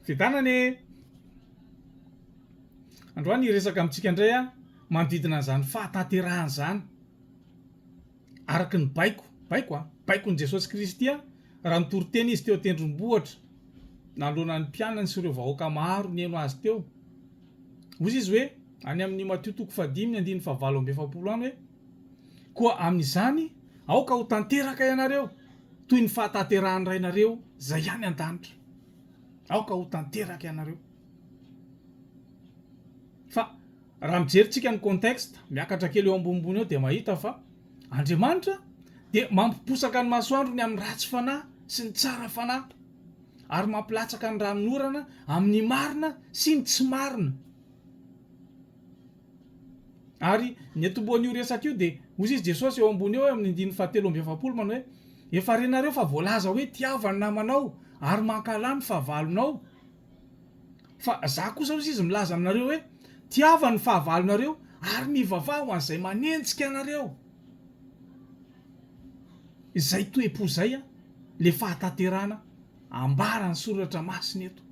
Fiadanana anie e! Androany hiresaka amintsika indray aho manodidina an'izany fahatanterahana izany araka ny baiko, baiko an, baikon'i Jesosy Kristy an, raha nitory teny izy teo an-tendrombohitra nanoloana ny mpianany sy ireo vahoaka maro nihaino azy teo. Hoy izy hoe, any amin'ny Matio toko fahadimy ny andininy fahavalo amby efapolo any hoe, Koa amin'izany, aoka ho tanteraka ianareo toy ny fahatanterahan'ny Rainareo izay any an-danitra. Aoka ho tanteraka ianareo. Fa raha mijery tsika ny contexte, miakatra kely eo ambonimbony eo dia mahita fa Andriamanitra dia mampiposaka ny masoandrony amin'ny ratsy fanahy sy ny tsara fanahy ary mampilatsaka ny ranonorana amin'ny marina sy ny tsy marina. Ary ny atombohan'io resaka io dia hoy izy Jesosy eo ambony eo amin'ny andininy fahatelo amby efapolo manao hoe, Efa renareo fa voalaza hoe tiava ny namanao ary mankahala ny fahavalonao. Fa zah kosa hoy izy milaza aminareo hoe, tiava ny fahavalonareo ary mivavaha ho an'izay manenjika anareo. Izay toe-po izay an, le fahatanterahana ambaran'ny soratra masina eto.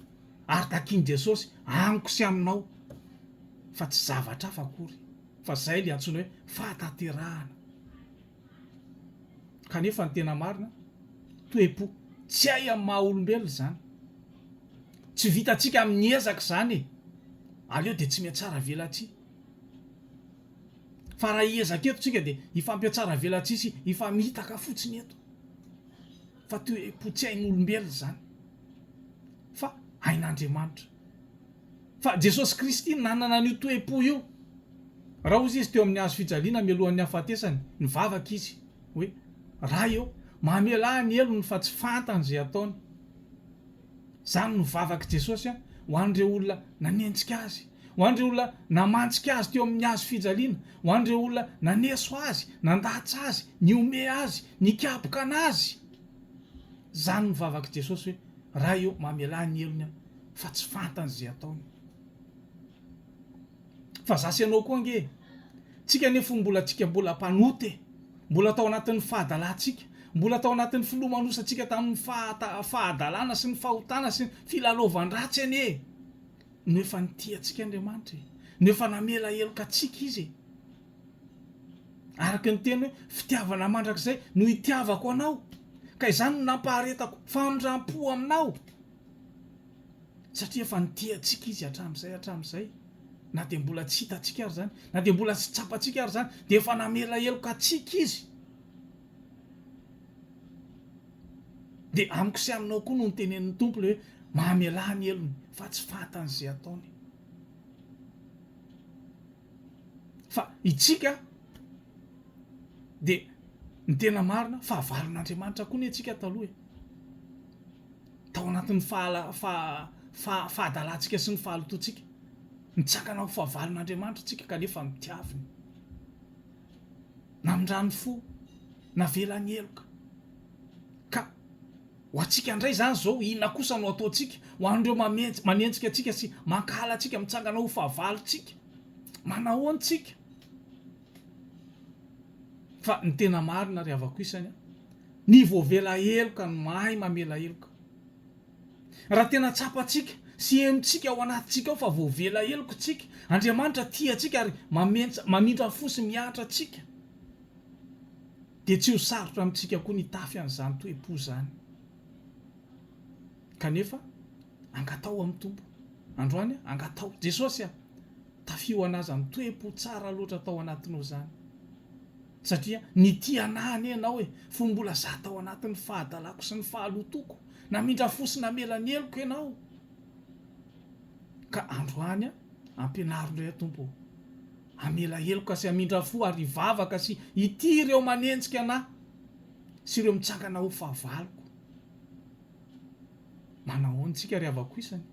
ary takian'i Jesosy amiko sy aminao fa tsy zavatra hafa akory fa zay le antsoina hoe fahatanterahana kanefa ny tena marina toepo tsy hay amin'ny maha olombelona zany tsy vitantsika amin'ny ezaka zany e aleo de tsy miatsara velatsihy fa raha hiezaka eto tsika de hifampiatsara velatsihy sy hifamitaka fotsiny eto fa toepo tsy hain'olombelona zany fa ain'Andriamanitra. Fa Jesosy Kristy nanana an'io toe-po io. Raha hozy izy teo amin'ny hazo fijaliana mialohan'ny hahafatesany, nivavaka izy hoe, Ray ô, mamelà ny helony fa tsy fantany izay ataony. Izany no vavak'i Jesosy ho an'ireo olona nanenjika azy, ho an'ireo olona namantsika azy teo amin'ny hazo fijaliana, ho an'ireo olona naneso azy, nandatsa azy, nihomehy azy, nikapoka anazy. Zany ny vavak'i Jesosy hoe, Ray ô, mamelà ny helony aho, fa tsy fantany izay ataony. Fa za sy ianao koa ange e! Tsika anie fony mbola tsika mbola mpanota e! Mbola tao anatin'ny fahadalantsika, mbola tao anatin'ny filomanosantsika tamin'ny fahata, fahadalana sy ny fahotana sy ny filalaovan-dratsy anie e! No efa nitia antsika Andriamanitra e! No efa namela heloka antsika Izy e! Araka ny teny hoe, fitiavana mandrakizay no itiavako anao, ka izany no nampaharetako famindram-po aminao. Satria efa nitia antsika izy hatramin'izay hatramin'izay, na dia mbola tsy hitantsika ary izany, na dia mbola tsy tsapantsika ary izany, dia efa namela heloka antsika izy. Dia amiko sy aminao koa no nitenenin'ny Tompo ilay hoe, mamelà ny helony, fa tsy fantany izay ataony. fa itsika dia ny tena marina fahavalon'Andriamanitra koa anie itsika taloha e! tao anatin'ny fahala faha fahadalantsika sy ny fahalotoantsika nitsakana ho fahavalon'Andriamanitra itsika kanefa nodiaviny namindrany fo navelany heloka ka Ho antsika indray izany izao, inona kosa no ataontsika ho an'ireo manenjika antsika sy mankahala antsika, mitsangana ho fahavalontsika? Manahoana isika? Fa ny tena marina ry havako isany, ny voavela heloka no mahay mamela heloka. Raha tena tsapantsika sy henontsika ao anatintsika ao fa voavela heloka isika, Andriamanitra tia antsika ary mamindra fo sy mihatra antsika. Dia tsy ho sarotra amintsika koa ny hitafy an'izany toe-po izany. Kanefa, angataho amin'ny Tompo. Androany, angataho. Jesosy a! Tafio ho an'Azy izany toe-po tsara loatra tao anatinao izany. Satria nitia an'ahy anie Ianao e! Fony mbola izaho tao anatin'ny fahadalako sy ny fahalotoako, namindra fo sy namela ny heloko Ianao. Ka androany a! Ampianaro indray aho Tompo ô. Hamela heloka sy hamindra fo ary hivavaka sy hitia ireo manenjika anah sy ireo mitsangana ho fahavaloko. Manahoana tsika ry havako isany?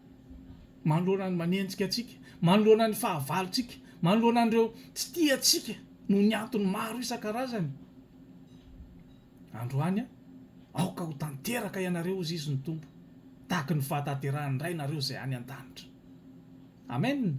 Manoloana ny manenjika antsika, manoloana ny fahavalontsika, manoloana an'ireo tsy tia antsika noho ny antony maro isan-karazany. Androany, aoka ho tanteraka ianareo, hoy Zizy ny Tompo, tahaky ny fahatanterahan'ny Ray nareo izay any an-danitra. Amen!